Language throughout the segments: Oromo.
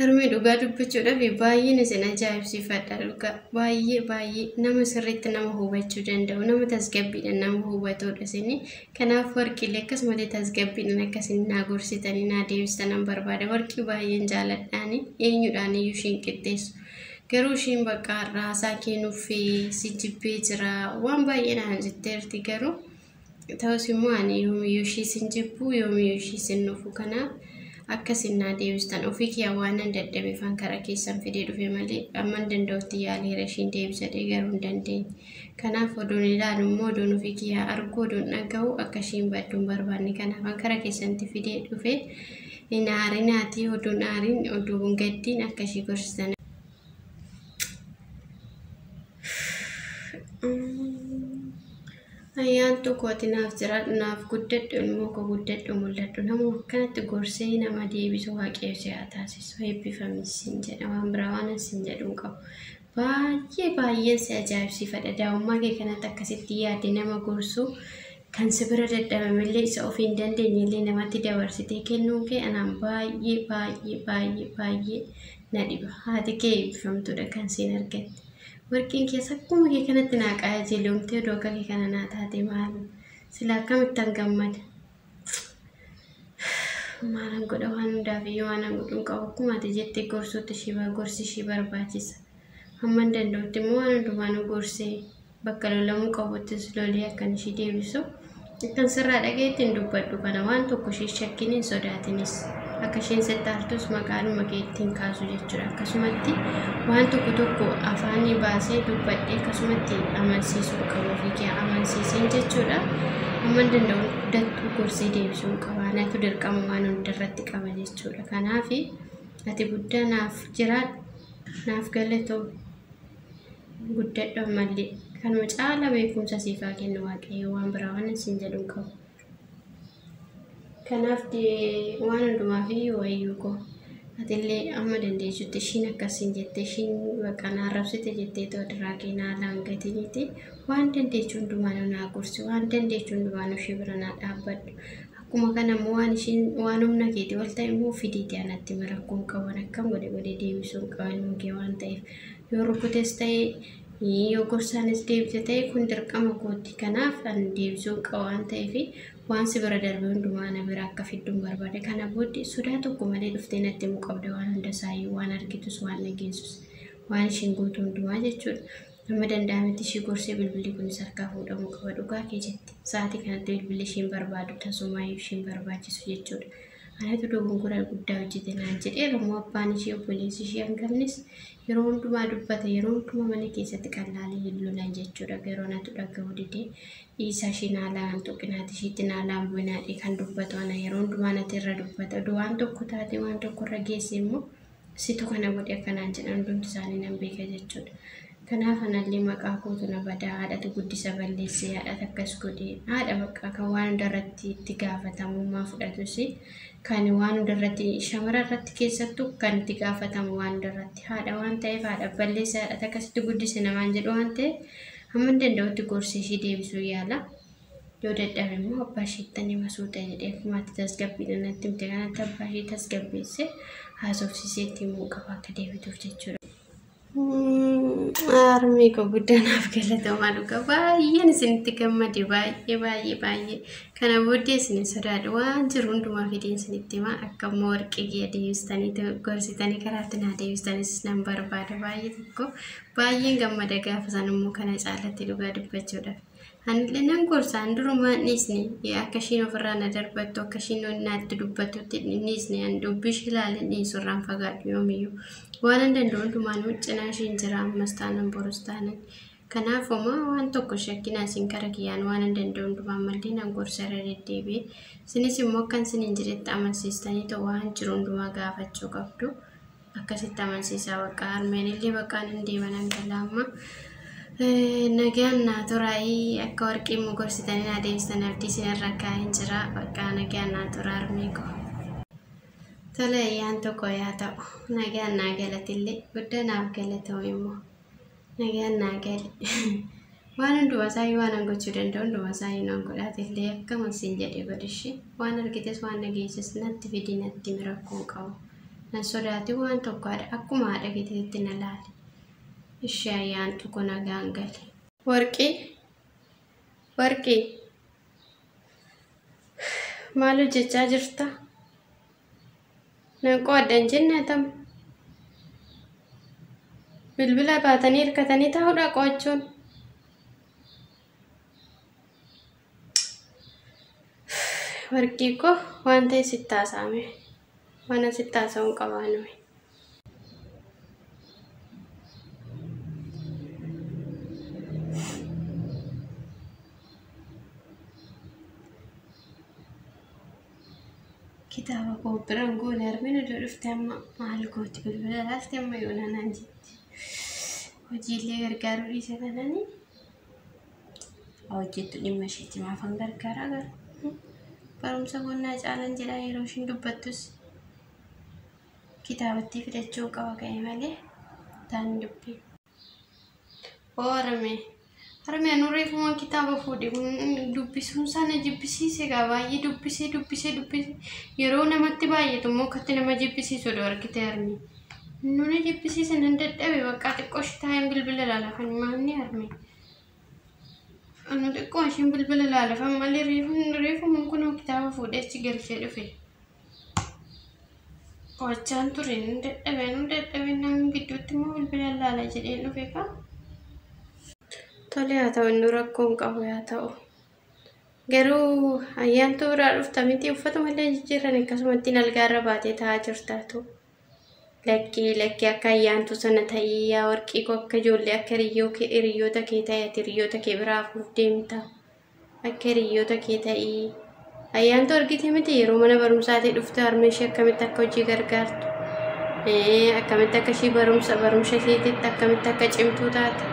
Harmee dhugaa dubbachuudhaaf baay'een isin ajaa'ibsiifadha dhugaa baay'ee baay'ee nama sirriitti nama hubachuu danda'u nama tasgabbiidhaan nama hubatudha isin kanaaf warqiilee akkasumatti tasgabbiidhaan akkasiin naa gorsitanii naa deebistanan barbaada warqii baay'een jaaladhaani eenyudhaan iyyuu ishiin qixxeessu garuu ishiin bakka har'aa haasaa keenuuf si jibbee jira waan baay'ee naan jetteerti garuu. Ta'us immoo ani yoomiyyuu ishiis hin jibbu, yoomiyyuu ishiis hin nufu. Kanaaf akka isin naa deebistan ofii kiyyaa waanan dadhabeefan karaa keessan fidee dhufe malee amman danda'utti yaaleera ishiin deebisadhee garuu hin dandeenye. Kanaaf odoon ilaalu immoo odoon ofii kiyyaa argu odoon dhaga'u akka ishiin baddu hin barbaanne. Kanaafan karaa keessanitti fidee dhufe hin aarinaatii odoon aariin odoon gaddiin akka ishii gorsitan. Ayyaantuu kooti naaf jiraadhu naaf guddadhu ilmoo koo guddadhu mul'adhu nama akkanatti gorsee nama deebisu waaqayyo si haa taasisu eebbifamis siin jedha waan biraa waan siin jedhu hin qabu. Baay'ee baay'een si ajaa'ibsiifadha daa'ummaa kee kanatti akkasitti yaadde nama gorsu Kan si bira dadhabamellee isa ofii hin dandeenyellee namatti dabarsitee kennuun kee anaan baay'ee baay'ee baay'ee baay'ee na dhiba. Haati kee eebbifamtuudha kan siin argatte. Warqiin kees akkuma kee kanatti naa qaajeelomtee odoo akka kee kana naa taate maaloo silaa akkamittan gammada. Maalan godha waan hundaaf iyyuu waanan godhu hin qabu akkuma ati jette gorsuutti ishii gorsi ishii barbaachisa. Hamman danda'utti immoo waan hundumaanuu gorsee bakka lolamuu qabuttis lolee akkan ishii deebisu akkan sirraa dhaga'etti hin dubbadhu kana waan tokko ishee hin shakkin hin sodaatinis akka isheen sitti aartus maqaadhuma keetti hin kaasu jechuudha akkasumatti waan tokko tokko afaanii baasee dubbadhee akkasumatti amansiisuu qabu ofii kee amansiiseen jechuudha amman danda'u dattuu gorsee deebisuu qaba natu dirqama waan hundarratti qaba jechuudha kanaafi ati guddaa naaf jiraadhu naaf galatoomi. guddadhu ammallee kanuma caala beekumsa siif haa kennu waaqayyo waan biraa waan isin jedhu hin qabu kanaaf dee- waan hundumaa fi wayyuu koo atillee amma dandeessutti ishiin akkasiin jette ishiin bakka na arrabsite jettee too diraa kee naa laangatiniiti waan dandeessu hundumaa nu naa gorsi waan dandeessu hundumaa nu ishii bira naa dhaabbadhu Akkuma kana immoo waan ishiin waan humna keetii ol ta'e immoo fidiiti anatti himi rakkoo hin qabu akkam godhe godhee deebisuu hin qabu ilma kee waan ta'eef yoo rukutes ta'e yoo gorsaanis deebite ta'e kun dirqama kooti kanaaf an deebisuu hin qabu waan ta'eef waan si bira darbe hundumaa ana bira akka fidduun barbaada kana booddee sodaa tokko malee dhuftee natti himuu qabda waan hunda isaayyuu waan argitus waan dhageessus waan ishiin gootu hundumaa jechuudha. Hamma danda'ametti ishii gorsee bilbilli kunis harkaa fuudhamuu qaba. Dhugaa kee jette. Sa'aatii kanatti bilbilli ishiin barbaadu tasumaayyuu ishiin barbaachisu jechuudha. Anatu dogongora guddaa hojjete naan jedheera moo abbaan ishii obboleessi ishii hangafnis yeroo hundumaa dubbata yeroo hundumaa mana keessatti qallaalee hin lolan jechuudha. Garuu anatu dhaga'uu didee dhiisaa ishii naalaa hin tuqinaati ishiitti naalaa hin bu'inaadhee kan dubbatu ana yeroo hundumaa nati irra dubbata. Oduu waan tokko taatee waan tokko irra geesse immoo Situ kana godhe akka naan jedhan hundumti isaanii nan beeka jechuudha. Kanaaf anallee maqaa kootu na bada, haadhatu guddisa balleesse, haadhatu akkas godhe, haadha bakka kan waan hunda irratti itti gaafatamummaa fudhatus kan waan hunda irratti shamara irratti keessattu kan itti gaafatamu waan hunda irratti haadha waan ta'eef haadha balleesse, haadhatu akkasitti guddise namaan jedhu waan ta'eef hamman danda'utti gorsi ishii deebisuu yaala. Yoo dadhabe immoo abbaa isheettan hima suuta jedhee akkuma ati tasgabbiidhaan natti himte kanatti abbaa ishee tasgabbeessee haasofsiisee itti himuu qaba akka deebituuf jechuudha. Harmee koo guddaa naaf galatoomaa dhugaa baay'een isinitti gammade baay'ee baay'ee baay'ee kana booddee isin sodaadha waan jiru hundumaa fideen isinitti himaa akka immoo warqee kiyya deebistanii gorsitanii karaatti naa deebistanis nan barbaada baay'ee tokko baay'een gammada gaafa san immoo kana caalatti dhugaa dubbachuudhaaf. Anillee nan gorsa, an durumaa hin dhiisne, akka ishiin ofirraa na darbattu, akka ishiin wanni natti dubbattutti hin dhiisne, an dubbii ishii ilaalee hin dhiisu, irraan fagaadhu yoomiyyuu. Waanan danda'u hundumaanuu cinaa ishiin jira, ammas taanan borus taanan. Kanaaf homaa waan tokko hin shakkinaa isin kara kiyyaan waanan danda'u hundumaa ammallee nan gorsa irra deddeebi'ee. Isinis immoo akkan isiniin jedhetti amansiistanii ta'u waan jiru hundumaa gaafachuu qabdu. akkasitti amansiisaa bakka harmeen illee bakkaan hin deema nan gala amma nagaan naa turaayii akka warqii immoo gorsitanii naa deebistan abdii isin irra kaa'een jira bakka nagaan naa tura harmee koo. Tole ayyaan tokko yaa ta'u nagaan naa galatillee guddaa naaf galatoomi immoo. Nagaan naa gali. Waan hundumaa isaayyuu waan an gochuu danda'u hundumaa isaayyuu naan godhaate illee akkam siin jedhee godhishi. Waan argites waan dhageesses natti fidi natti himi rakkoo hin qabu. Nan sodaati waan tokko haadha akkuma haadha keetiitti na laali. Ishee ayyaantu ko nagaan gali. Warqii warqii maal hojjechaa jirta? Nan qo'adha hin jenne atam. Bilbila baatanii hirkatanii taa'uudha qo'achuun. Warqii koo waan ta'e sitti haasa'ame. Waan asitti haasa'uun qabaa nuyi. kitaaba koo biran goone armin iddoo dhufte amma maal gooti bilbila laalte amma yoona naan jetti hojiillee gargaaruu dhiise kanani hojjettu dhimma isheetti maafan gargaaraa gara barumsa bonnaa caalan jedha yeroo ishiin dubbattus kitaabattii fidachuu qaba ka'e malee taan dubbii Oo Harame. Harame anu reefumaan kitaaba fuudhe dubbisuun isaa na jibbisiise egaa baay'ee dubbisee dubbisee dubbisee yeroo namatti baay'atu immoo akkatti nama jibbisiisu odoo argite harme. Nu na jibbisiise nan dadhabe baqqaa xiqqoo ishee taa'een bilbila ilaala kan maanni harme. Anu xiqqoo isheen bilbila ilaala kan malee reefuun reefumaan kun kitaaba fuudhee achi galchee dhufe. Qorachaan ture nan dadhabe anuu dadhabeen namni gidduutti immoo bilbila laala jedheen dhufe kaa. Tole haa ta'u inni rakkoo hin qabu yaa ta'u. Garuu ayyaantu biraa dhufta miti uffatuma illee jijjiirran akkasumatti nalgaa irra baatee taa'aa jirtaatu. Lakkii lakkii akka ayyaantu sana ta'ii yaa warqii koo akka ijoollee akka hiriyyoota kee ta'e ati hiriyyoota kee biraa hafuuf deemta. Akka hiriyoota kee ta'i. Ayyaantu argite miti yeroo mana barumsaatii dhufte harmee ishee akkamitti akka hojii gargaartu. Akkamitti akka ishii barumsa barumsa isheetitti akkamitti akka cimtuu taate.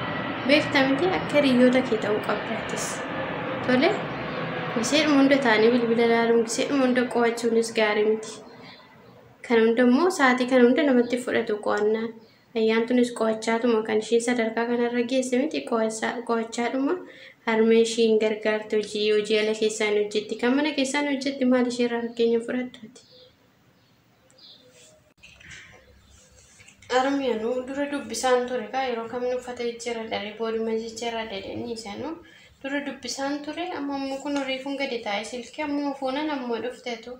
Beekta miti akka hiriyoota kee ta'uu qabdaattis. Tole giseedhuma hunda taa'anii bilbila ilaaluun giseedhuma hunda qo'achuunis gaarii miti. Kana hunda immoo sa'aatii kana hunda namatti fudhatu qo'annaan. Ayyaantunis qo'achaatuma kan ishii sadarkaa kanarra geesse miti qo'achaadhuma harmee ishii hin gargaarti hojii hojii ala keessaa hin hojjetti kan mana keessaa hin hojjetti maal ishee irraa fakkeenya hin fudhattu ati. Harmee nu dura dubbisaan ture kaa yeroo kamni uffata jijjiirra dharee booduma jijjiirra dedhanii isanuu dura dubbisaan ture amma immoo kun reefuun gadi taa'ee silkii ammoo fuunan ammoo dhuftetu.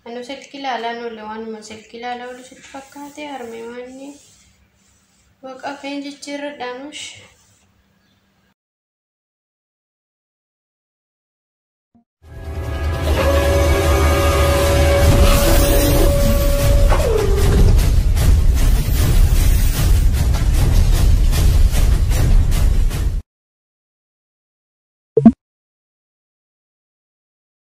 Anu silki ilaalaan oole waanuma silki ilaalaa oolu sitti fakkaate harmee waanni waqa keen jijjiirradhaanush.